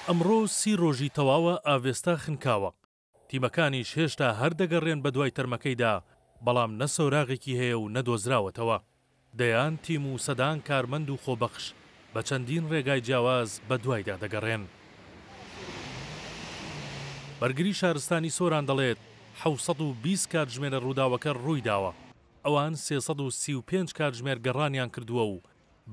ئەمڕۆ سی رۆژی تەواوە ئاڤێستا خنکاوە، تیمەکانیش هێشتا هەر دەگەڕێن بەدوای تەرمەکەیدا، بەڵام نە سۆراغێکی هەیە و نە دۆزراوەتەوە. دەیان تیم و سەدان کارمەند و خۆبەخش بە چەندین رێگای جیاواز بەدوایدا دەگەڕێن. بەرگری شارستانی سۆران دەڵێت، حەوت سەد و بیست کاتژمێرە رووداوەکە روویداوە، ئەوان سێ سەد و سی و پێنج کاتژمێر گەڕانیان کردووە و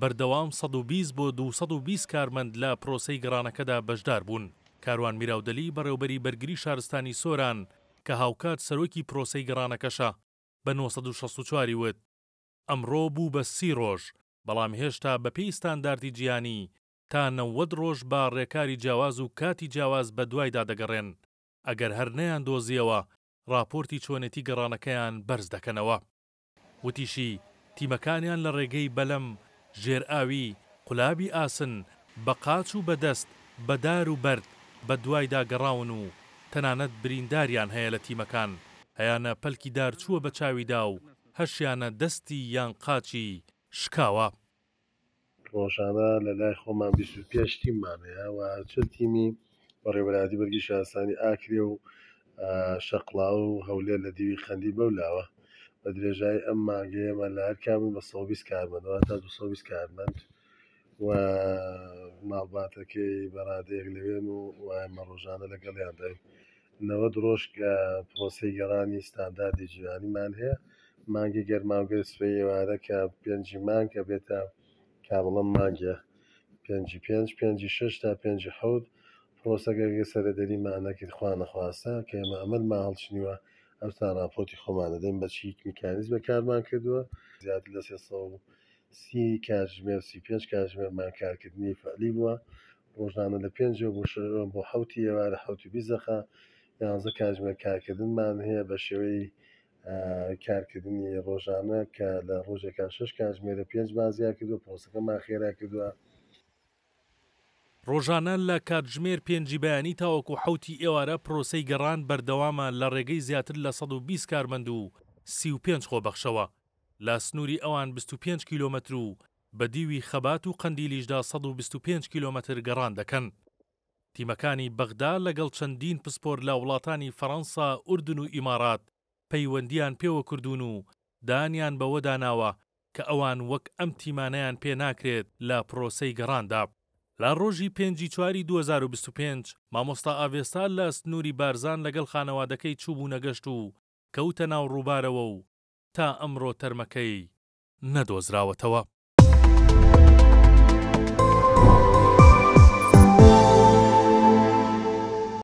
بەردەوام سەد و بیست بۆ دوو سەد و بیست کارمەند لە پرۆسەی گەڕانەکەدا بەشدار بوون. کاروان میراودەلی بەڕێوبەری بەرگری شارستانی سۆران کە هاوکات سەرۆکی پرۆسەی گەڕانەکەشە بە نۆ سەد و شەست و چوار ی وت ئەمڕۆ بوو بە سی رۆژ بەڵام هێشتا بەپێی ستانداردی جیهانی تا نەوەد رۆژ بە رێکاری جیاواز و کاتی جیاواز بەدوایدا دەگەڕێن ئەگەر هەر نەیاندۆزیەوە راپۆرتی چۆنێتی گەڕانەکەیان بەرز دەکەنەوە. وتیشی، تیمەکانیان لە ڕێگەی بەلەم، ژێرئاوی، قولابی ئاسن، بە قاچ و بە دەست، بە دار و بەرد بە دوایدا گەڕاون و تەنانەت برینداریان هەیە لە تیمەکان هەیانە پەلکی دار چووە بە چاویدا و هەشیانە دەستی یان قاچی شکاوە. ڕۆژانە لە لای خۆمان بیست و پێنج تیممان هەیە و چل تیمی بەڕێوەبەرایەتی بەرگی شارستانی ئاکرێ و شەقڵاو و هەولێر لە دیوی قەندیل بەو لاوە بە درێژایی ئەم مانگەی ئێمە لە هەر کامەی بە سەد و بیست کارمەند واتە دوو سەد و بیست کارمەند و ماڵباتەکەی بە ڕادەیەک لەوێن و ئێمە ڕۆژانە لەگەڵیانداین. نەوەد ڕۆژ کە پرۆسەی گەڕانی ستانداردی جیهانیمان هەیە، مانگی گەرما و گەل سپی ئێوارە کە پێنجی مانگ ئەبێتە کابڵەم مانگێ پێنجی پێنج پێنجی شەش تا پێنجی حەوت پرۆسەگە گە سەرەدەری ما نەکرد خوا نەخواستە کە ئێمە ئەمەر ما هەڵچنیوە ئەوسا ڕاپۆتی خۆمان دەدەین بە چیک میکانیزمە کارمان کردووە زیاتر لە سێ سەد و سی کاتژمێر سی پێنج کاتژمێرمان کارکردنی فەعلی بووە ڕۆژانە لە پێنجی بۆ شە بۆ حەوتی ئێوارە حەوتی بیست دەقە یانزە کاتژمێر کارکردنمان هەیە بە شێوەی کارکردنی ڕۆژانە کە لە ڕۆژێکا شش کاتژمێرە پێنجمان زیا کردووە پۆستەکەمان خێرا کردووە. ڕۆژانە لە کاتژمێر پێنجی بەیانی تاوەکو حەوتی ئێوارە پرۆسەی گەڕان بەردەوامە لە ڕێگەی زیاتر لە سەد و بیست کارمەند و سی و پێنج خۆبەخشەوە لە سنووری ئەوان بیست و پێنج کیلۆمەتر و بە دیوی خەبات و قەندیلیشدا سەد و بیست و پێنج کیلۆمەتر گەڕان دەکەن. تیمەکانی بەغدا لەگەڵ چەندین پسپۆر لە وڵاتانی فەرەنسا، ئوردن و ئیمارات پەیوەندییان پێوە کردوون و دانیان بەوەدا ناوە کە ئەوان وەک ئەم تیمانەیان پێ ناکرێت لە پرۆسەی گەڕاندا. لە ڕۆژی پێنج ی چواری دوو هەزار و بیست و پێنج، مامۆستا ئاڤێستا لە سنووری بارزان لەگەڵ خانەوادەکەی چووبوونە گەشت و کەوتە ناو ڕووبارەوە و تا ئەمڕۆ تەرمەکەی نەدۆزراوەتەوە.